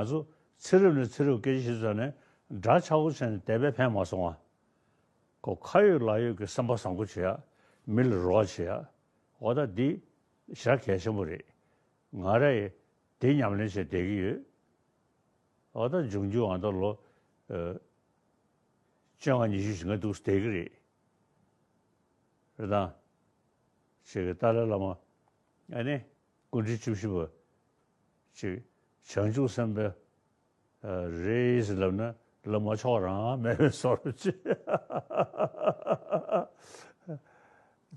ང་ཚོ་ཚེ་རབས་ནས་ཚེ་རབས་སྐད་ཆ་བྱེད་ནས་འདྲ་ཆགས་སྒོ་ཕྱེ་ནས་དད་པས་ཕན་མ་སོང་ང། ཁོ་ཁ་ཡོད་ལག་ཡོད་ཀྱི་སེམས་པ་བཟང་པོ་བྱེད་ཡ། མི་ལ་རོགས་བྱེད་ཡ། འོ་ད་འདི་ཞག་གལ་ཆེན་པོ་རེད། ང་ར་ཡི་དེ་ཉམས་ལེན་བྱེད་བསྡད་ཀྱི་ཡོད། འོ་ད་འབྱུང་འགྱུར་འང་ད་ལོ་བཅོ་ལྔ་ཉི་ཤུ་ཞེ་ལྔ་འདུག་བསྡད་ཀྱི་རེད། རེད་དང། བྱེད་ཀྱི་ཏཱ་ལའི་བླ་མ། ཨ་ནི། སྐུ་འཕྲེང་བཅུ་བཞི་པ། གཅིག། བྱང་ཆུབ་སེམས་དཔའ་རེས་ལབ་ན་ལབ་མ་མཆོག་རང་དམན་བས་བཟོ་རུ་ཆེ།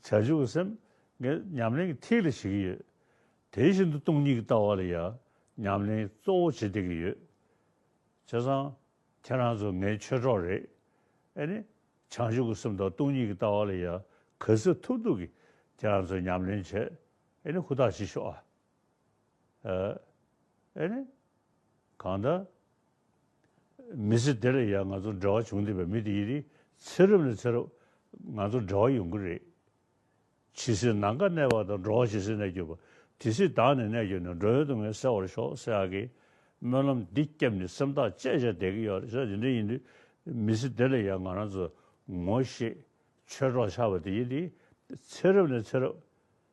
བྱང་ཆུབ་སེམས་ངས་ཉམས་ལེན་གྱི་ཐིག་ལེ་བྱེད་ཀྱི་ཡོད། དེ་བཞིན་དུ་སྟོང་ཉིད་ཀྱི་ལྟ་བ་ལ་ཡང་ཉམས་ལེན་གཙོ་བོ་བྱེད་བསྡད་ཀྱི་ཡོད། བྱས་ཙང་ཁྱེད་རང་ཚོ་ངའི་ཆོས་གྲོགས་རེད། ཨེ་ནི། བྱང་ཆུབ་ཀྱི་སེམས་དང་སྟོང་ཉིད་ཀྱི་ལྟ་བ་ལ་ཡང་གལ་སྲིད་ཐུབ་ཐུབ་ཀྱིས་ཁྱེད་རང་ཚོས་ཉམས་ལེན་བྱེད་ཨེ་ནི་ཧུར་ཐག་བྱེད་ཤོག་ཨ། ཨ། ཨེ་ནི། གང་ལྟར། མི་ཚེ་འདི་ལ་ཡང་ང་ཚོར་འབྲེལ་བ་བྱུང་བསྡད་པའི་མི་དེ་ཡི་རིགས་ཚེ་རབས་ནས་ཚེ་རབས། ང་ཚོར་འབྲེལ་བ་ཡོང་གི་རེད། ཇི་སྲིད་ནང་ཁ་གནས་པ་དང་འགྲོ་བ་ཇི་སྲིད་གནས་གྱུར་པ་དེ་སྲིད་བདག་ནི་གནས་གྱུར་ནས་འགྲོ་ཡོད་དུ་ངས་གསལ་བར་ཤོག་སེ་ཨ་ཀི། སྨོན་ལམ་འདི་སྐྱབས་ནི་སེམས་ཐག་བཅད་བཞག་བསྡད་ཀྱི་ཡོད་རེད་ས་དེ་འདྲ་ཡིན་དུས། མི་ཚེ་འདི་ལ་ཡང་ང་རང་ཚོས་ངོ་ཤེས། ཆོས་གྲོགས་ཆགས་པ་དེ་ཡི་རིགས་ཚེ་རབས་ནས་ཚེ་རབས།